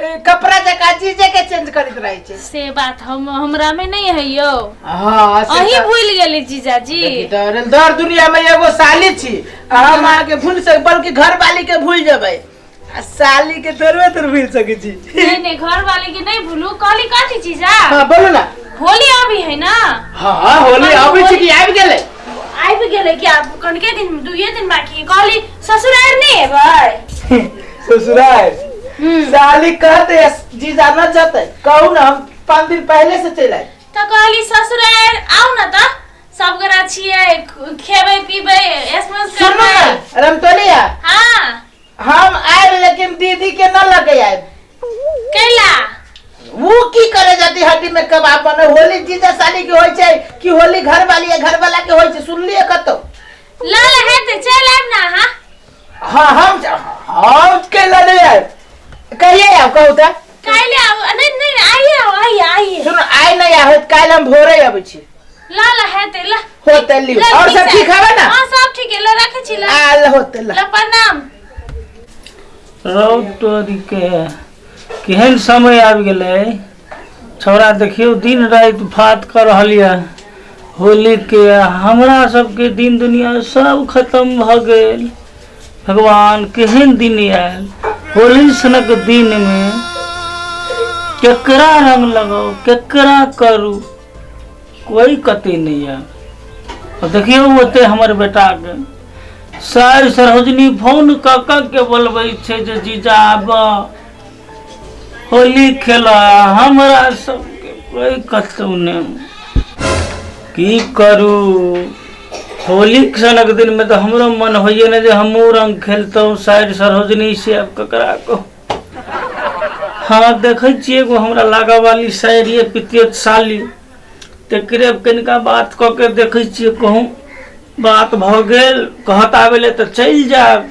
ए, कपड़ा जका चीजे के चेंज करत रहे छै से बात हम हमरा में नहीं है यो हाँ से अही तऽ- भूल गेली जीजाजी देखी तऽ अरे दर दुनिया में एगो साली छी आ हम अहाँ के भूल सक बल्कि घर वाली के भूल जेबै आ साली के थोड़बे थोड़ भूल सकै छी नहीं नहीं घर वाले के नहीं भूलू कहली कथी जीजा हाँ बोलू ना होली अभी है ना हाँ हाँ होली अभी छी कि आबि गेलै आबि गेलै कि आब कनके दिन दुइये दिन बाकी कहली ससुरार नहीं एबै ससुराल हम्म। साली कहते है, जीजा न जते कहू ना हम पाँच दिन पहले से चल आए तो कहली ससुरार आउ न त सब गोरा छियै खेबै पीबै ऐसमस सुनो ना करबै रमतोलिया हाँ हम आए लेकिन दीदी के ना लगे आए कैला वो की करे जाती हड्डी में कबाब बने होली जीजा साली के होय छै कि होली घर वाली है घर वाला के होय छै सुनलिए कतो लाल है तो चल आब ना हां हां हम हम के लड़े आए कहिए आओ कहू त काल्हि आउ नहीं नहीं आइए आइए आइए सुन आइ नहीं आहोत काल्हि हम भोरे अबै छी ला ला है ते ला होते लियो ला, और सब पीसा। ठीक है ना हाँ सब ठीक है ला रखे छी ला आल होते ला ला प्रणाम रौटोरी के केहन समय आबि गेलै छौड़ा देखियौ दिन राति फात कऽ रहल यऽ होलीके हमरा सबके दिन दुनिया सब खतम भऽ गेल भगवान केहन दिन आयल होली सनक दिनमे केकरा रंग लगाउ केकरा करू कोई कते नहीं है अब देखियो ओते हमर बेटा के सार सरोजनी फोन क क के बोलबै छै जे जीजा आब होली खेल हमरा सबके कोई कतौ नहीं की करू होली सनक दिन में तो हमरो मन होइए ने जे हमहूँ रंग खेलतहुँ साइड सरोजनी से आब ककरा कहू हँ देखै छियै एगो हमरा लागा वाली शायरी है पितियत साली तकरे अब कनिका बात कऽ के देखै छियै कहूँ बात भऽ गेल कहत आबै लए तऽ चलि जायब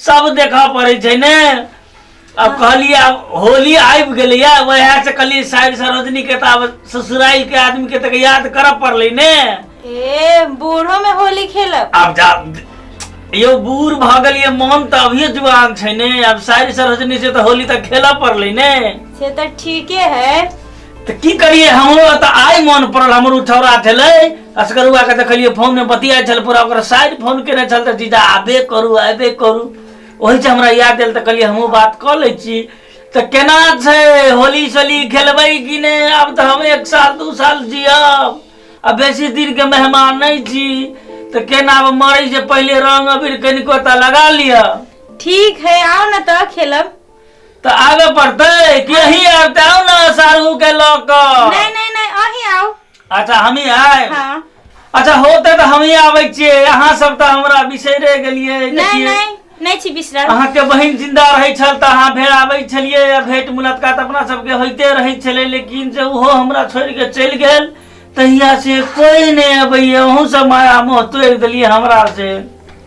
सब देखऽ पड़ै छै ने अब कहलिए अब होली आबि गेलैया वएह से कहलिए साइड से रजनी के तऽ आब ससुराल के आदमी के तऽ याद करऽ पड़लै ने ए बूढ़ो में होली खेलब आब जा यौ बूढ़ भऽ गेलिए मन तऽ अभिये जुआन छै ने आब साइड से रजनी से तऽ होली तऽ खेलऽ पड़लै ने से तो ठीके है तऽ की करिए हमरो तऽ आइ मन पड़ल हमर ओ छौड़ा छलै असगरुआके देखलियै फोनमे बतियाइ छल पूरा ओकरा साइड फोन केने छल तऽ जीजा आबे करू आबे करू ओहिसँ हमरा याद आयल तऽ कहलियै हमहूँ बात कऽ लै छी तऽ केना छै होली सोली खेलबै कि नहि आब तऽ हम एक साल दू साल जियब आ बेसी दिनके मेहमान नहि छी तऽ केना आब मरै से पहिले रंग अबीर कनिको तऽ लगा लिअ ठीक है आओ ना तो खेलब तऽ आबे पड़तै कि अही आब तऽ आउ ने सारू के लऽ कऽ नहीं नहीं नहीं अही आओ अच्छा हमही आयब हाँ अच्छा होते तऽ हमही आबै छियै अहाँ सब तऽ हमरा बिसैरे गेलियै नहीं देखियै नहीं नहीं छी बिसरल अहाँके बहिन जिंदा रहै छल तऽ अहाँ भेड़ आबै छलियै आ भेंट मुलाकात अपना सबके होइते रहै छलै लेकिन जे ओहो हमरा छोड़ि कऽ चलि गेल तहिया से कोई नहि अबैया अहूँ सब माया मोह तोड़ि देलियै हमरा से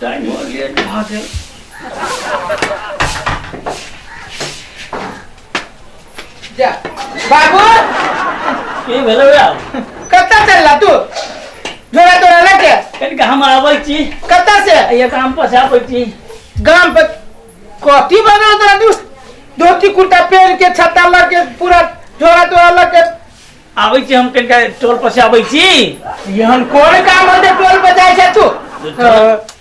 टाइमो लेट भऽ गेल जा बाबू की भेलौ रे कतऽ चलला तू झोरा तोरा लऽ के कनि के हम आबै छी कतऽ से ये काम पर से आबै छी गाम पर कथी बनल तोरा तू धोती कुर्ता पहन के छत्ता लऽ के पूरा झोरा तोरा लऽ के आबै छी हम कनिका टोल पर से आबै छी एहन कोन काम होते टोल पर जाय छै तू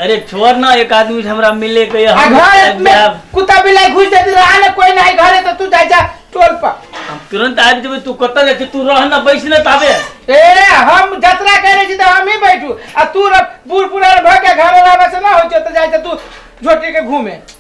अरे छोड़ ना एक आदमी से हमरा मिले के आ हम घर में जायब। कुत्ता बिलाई घुस जाते रहा ना कोई नहीं घर है तो तू जाय जा टोल पर हम तुरंत आबि जेबै तू कतऽ जाइ छी तू रह ना बैस ना ताबे ए हम जतरा करे छी तो हम ही बैठू आ तू र- बूढ़ बुढ़ार भ के घर रहबे से ना हो छै तो जाय जा तू झोटी के घूमे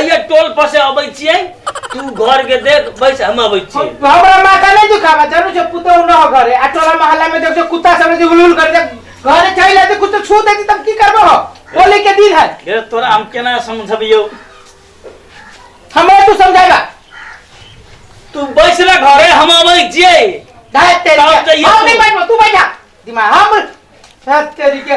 अइया टोल पर से अबै छियै तू घर के देख बैस हम अबै छियै हमरा माथा नहीं दुखावा जानू छे पुतौ न हो घरे आ टोला मोहल्ला में देख छे कुत्ता सब जे हुलहुल कर दे घरे चल आते कुछ तो छू देती तब की करबो हो होली के दिन है रे तोरा हम केना समझबियो हमरा तू समझावा तू बैस रे घरे हम अबै छियै धाय तेरी तब के। तो ये हम नहीं तू- बैठबो तू बैठा दिमाग हम धाय तेरी के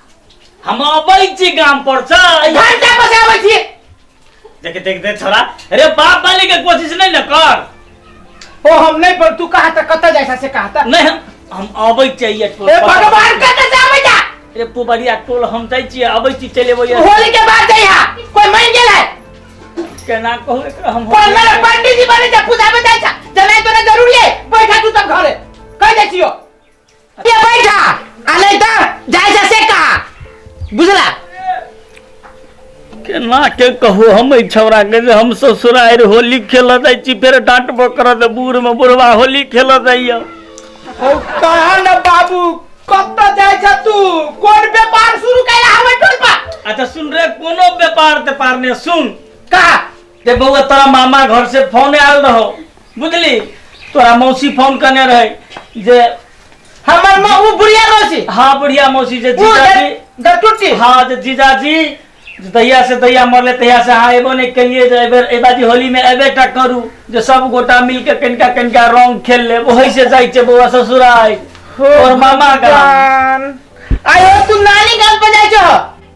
हम अबै छी गाम पर से घंटा पर से आबै छी देख देख देख छोरा अरे बाप बने के कोशिश नहीं न कर ओ हम नहीं पर तू कहा था कत जाए से कहा था नहीं हम हम अबै चाहिए टोल ए पर। भगवान कत से आबै जा अरे पुबरिया टोल हम जाइ छी अबै छी चले अबै होली के बाद जाए यहाँ कोई मान गेल है केना कहू एकरा हम कोई मेरे पंडित जी बने जा पूजा में जाए जा जनाई तो ना जरूरी है बैठा तू सब घरे कह दे छियो ये बैठा आ नहीं तो जाए जा से कहा बुझला केना के कहू हम एहि छौड़ा के जे हम ससुरारि होली खेलऽ जाइ छी फेर डांटबो करत बूढ़ में बुढ़वा होली खेलऽ जाइए हो कहा न बाबू कत जाए जा तू कोन व्यापार शुरू कैला हमर टोल पर अच्छा सुन रे कोनो व्यापार तेपार ने सुन कहा रे बउआ तोरा मामा घर से फोन आयल रहो बुझली तोरा मौसी फोन करने रहे जे हमर माँ वो बुढ़िया मौसी हाँ बुढ़िया मौसी जे वो जीजाजी दरटुटी हाँ जे जीजाजी जे दहिया से दहिया मरले तहिया से हाँ एबो नहीं कहिए जे एबेर ए बाजी होली में एबे टा करू जे सब गोटा मिल के कनिका कनिका रंग खेल ले वही से जाइ छै बउआ ससुराल और मामा का जान आयो तू नानी गाल पर जाइ छह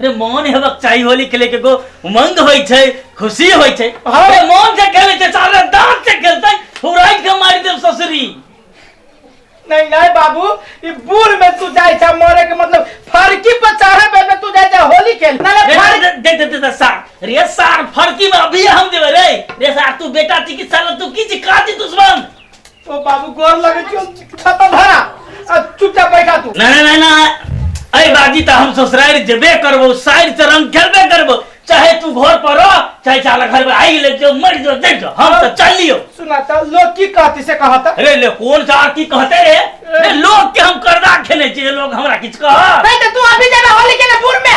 अरे मोन हेबाक चाही होली खेले के गो उमंग होय छै खुशी होय छै अरे मोन से खेले छै सारे दांत से खेलतै फुराइ के मारि देब ससुरी नहीं नहीं बाबू ये बूढ़ में तू जाए छा मरे के मतलब फरकी पर चढ़े पे में तू जाए छा होली खेल ना ना दे फरकी दे- दे दे दे दे सार रे सार फड़की में अभी हम देबे रे रे सार तू बेटा छी कि साला तू की छी काजी दुश्मन ओ बाबू गोर लगे छो छाता धरा आ चुपचाप बैठा तू ना ना ना ना अरे बाजी तो हम ससुराल जबे करबो साइड से रंग खेलबे करबो चाहे तू घर पर रह चाहे चाला घर में आई ले जो मर जो देख जो हम तो चल लियो सुना था लोग की कहती से कहा था अरे ले कौन सा की कहते रे रे लोग के हम करदा खेले छी लोग हमरा किछ कह भाई तो तू अभी जाना होली के ना बुर में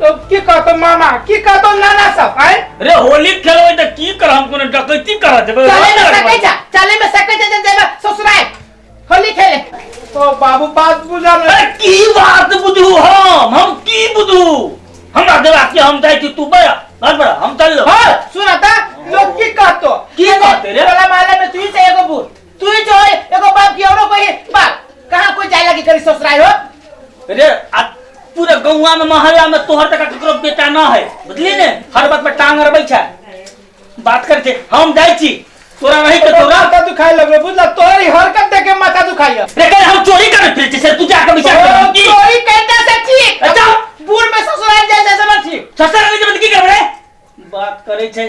तो की कहतो मामा की कहतो नाना सब आए रे होली खेलबै त की कर हम कोनो डकैती कर देबै चले में सकै छ चले में सकै छ जे जेबे ससुराल होली खेले तो बाबू बात बुझा ले अरे की बात बुझू हम हम की बुझू हमरा देवा के हम जाइ छी तू बड़ा घर बड़ा हम चल लो हां सुना त लोग की कहतो की कहते रे? टोला माले में तू से एगो बूढ़ तू ही जो है एगो बाप की औरो कोई बाप कहाँ कोई जाए लगी करी ससुराई हो रे आ पूरे गौवा में मोहल्ला में तोहर तक ककरो बेटा ना है बुझली ने हर बात में टांग अरबै छै बात कर छै हम जाइ छी तोरा रही के तोरा माथा दुखाए लगलो बुझला तोरी हरकत देख के माथा दुखाई है रे कल हम चोरी कर फिर छै तू जाके विचार कर की चोरी करता से ठीक अच्छा। बूढ़ में ससुराल जैसे समझ ठीक ससुर के जब की करबे बात करे छै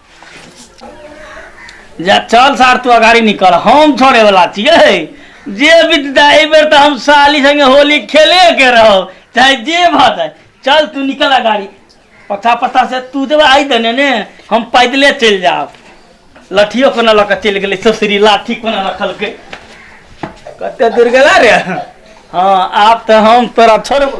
जा चल सार तू अगाड़ी निकल हम छोड़े वाला छियै जे विद्या एहि बेर तऽ हम साली संगे होली खेले के रहो चाहे जे भऽ जाए चल तू निकल अगाड़ी पता पता से तू देबे आइ देने ने हम पैदले चलि जाब लठियो कोना लऽ कऽ चलि गेलै ससुरी लाठी कोना रखलकै कते दूर गेला रे हँ आब तऽ हम तोरा छोड़बो